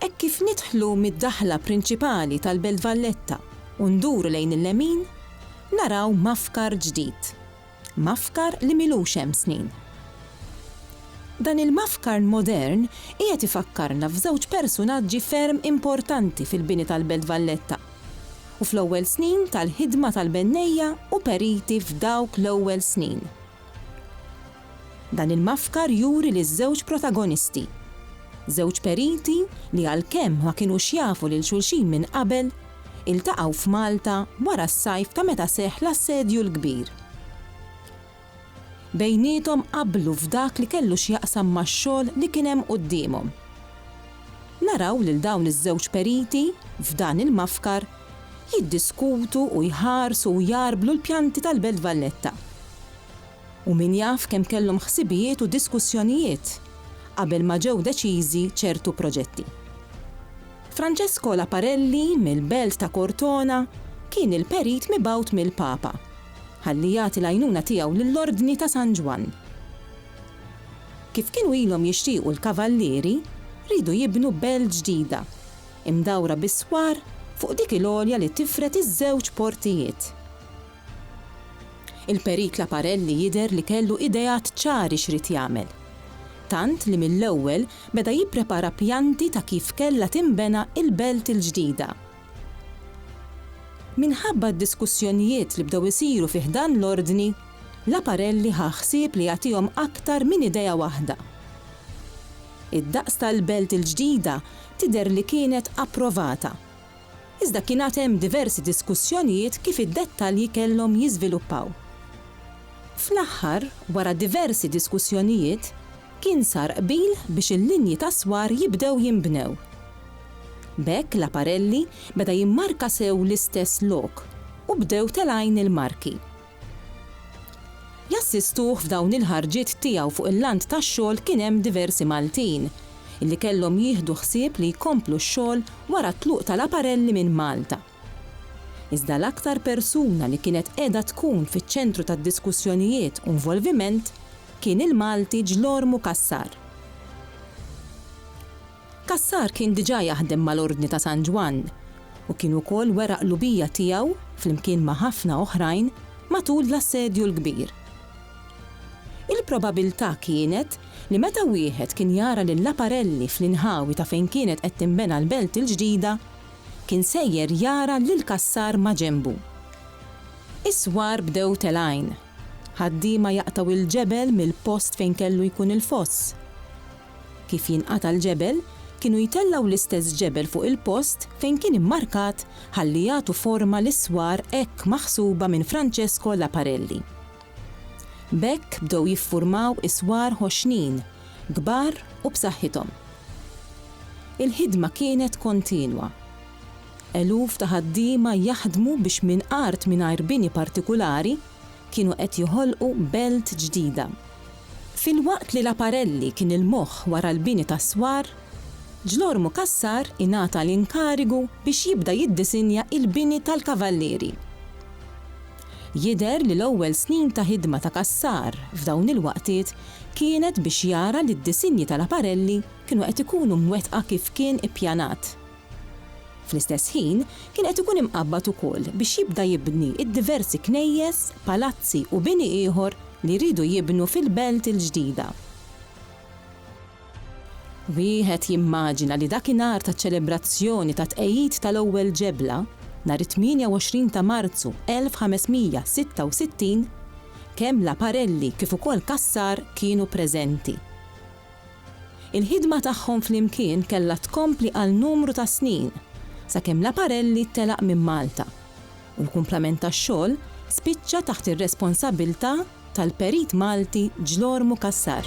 Hekk kif nidħlu mid-daħla prinċipali tal-Belt Valletta u nduru lejn il-lemin, naraw Mafkar ġdid. Mafkar li m'ilux hemm snin. Dan il-Mafkar modern qiegħed ifakkarna f'żewġ persunaġġi ferm importanti fil-bini tal-Belt Valletta u fl-ewwel snin tal-ħidma tal-bennejja u periti f'dawk l-ewwel snin. Dan il-mafkar juri liż-żewġ protagonisti, żewġ periti li għalkemm ma kinux jafu lil xulxin minn qabel, iltaqgħu f'Malta wara s-sajf ta' meta seħħ l-Assedju l-Kbir. Bejniethom qablu f'dak li kellu x'jaqsam max-xogħol li kien hemm quddiemhom. Naraw lil dawn iż-żewġ periti, f'dan il-mafkar, jiddiskutu u jħarsu u jgħarblu l-pjanti tal-Belt Valletta. U min jaf kemm kellhom ħsibijiet u diskussjonijiet qabel ma ġew deċiżi ċertu proġetti. Francesco Laparelli mill-belt ta' Cortona kien il-perit mibgħut mill-Papa ħalli jagħti l-għajnuna tiegħu lill-Ordni ta' San Ġwann. Kif kienu ilhom jixtiequ l-Kavallieri, riedu jibnu belt ġdida, imdawra bis-swar fuq dik il-għolja li tifred iż-żewġ portijiet. Il-Perit Laparelli jidher li kellu ideat ċari x'ried jagħmel. Tant li mill-ewwel beda jipprepara pjanti ta' kif kellha tinbena il-belt il-ġdida. Minħabba d-diskussjonijiet li bdew isiru fi ħdan l-Ordni, Laparelli ħa ħsieb li jagħtihom aktar minn idea waħda. Id-daqs tal-belt il-ġdida tidher li kienet approvata. Iżda kien għad hemm diversi diskussjonijiet kif id-dettalji kellhom jiżviluppaw. Fl-aħħar, wara diversi diskussjonijiet, kien sar qbil biex il-linji tas-swar jibdew jinbnew. B'hekk l-Aparelli beda jimmarka sew l-istess lok u bdew telgħin il-marki. Jassistuh f'dawn il-ħarġiet tiegħu fuq il-lant tax-xogħol kien hemm diversi Maltin, li kellhom jieħdu ħsieb li jkomplu x-xogħol wara t-tluq ta' Laparelli minn Malta. Iżda l-aktar persuna li kienet qiegħda tkun fiċ-ċentru tad-diskussjonijiet u nvolviment kien il-Malti Ġlormu Cassar. Cassar kien diġà jaħdem mal-Ordni ta' San Ġwann u kien ukoll wera qlubija tiegħu, flimkien ma' ħafna oħrajn, matul l-Assedju l-Kbir. Il-probabilità kienet li meta wieħed kien jara lil Laparelli fl-inħawi ta' fejn kienet qed tinbena l-Belt il-Ġdida, kien sejjer jara lil Cassar maġenbu. Is-swar bdew telgħin. Ħaddiema jaqtgħu l-ġebel mill-post fejn kellu jkun il-foss. Kif jinqata' l-ġebel, kienu jtellgħu l-istess ġebel fuq il-post fejn kien immarkat ħalli jagħtu forma lis-swar hekk maħsuba minn Francesco Laparelli. B'hekk bdew jiffurmaw is-swar ħoxnin, kbar u b'saħħithom. Il-ħidma kienet kontinwa. Eluf ta' ħaddiema jaħdmu biex minn art mingħajr bini partikulari, kienu qed joħolqu belt ġdida. Filwaqt li Laparelli kien il-moħħ wara l-bini tas-swar, Ġlormu Cassar ingħata l-inkarigu biex jibda jiddisinja l-bini tal-Kavallieri. Jidher li l-ewwel snin ta' ħidma ta' Cassar f'dawn il-waqtiet kienet biex jara li d-disinji ta' Laparelli kienu qed ikunu mwettqa kif kien ippjanat. Fl-istess ħin, kien qed ikun imqabbad ukoll biex jibda jibni d-diversi knejjes, palazzi u bini ieħor li jridu jibnu fil-Belt il-Ġdida. Wieħed jimmaġina li dakinhar taċ-ċelebrazzjoni tat-tqegħid tal-ewwel ġebla, nhar it-28 ta' Marzu 1566, kemm Laparelli kif ukoll Cassar kienu preżenti. Il-ħidma tagħhom flimkien kellha tkompli għal numru ta' snin, sakemm Laparelli telaq minn Malta, u l-kumplament tax-xogħol spiċċa taħt ir-responsabbiltà tal-perit Malti Ġlormu Cassar.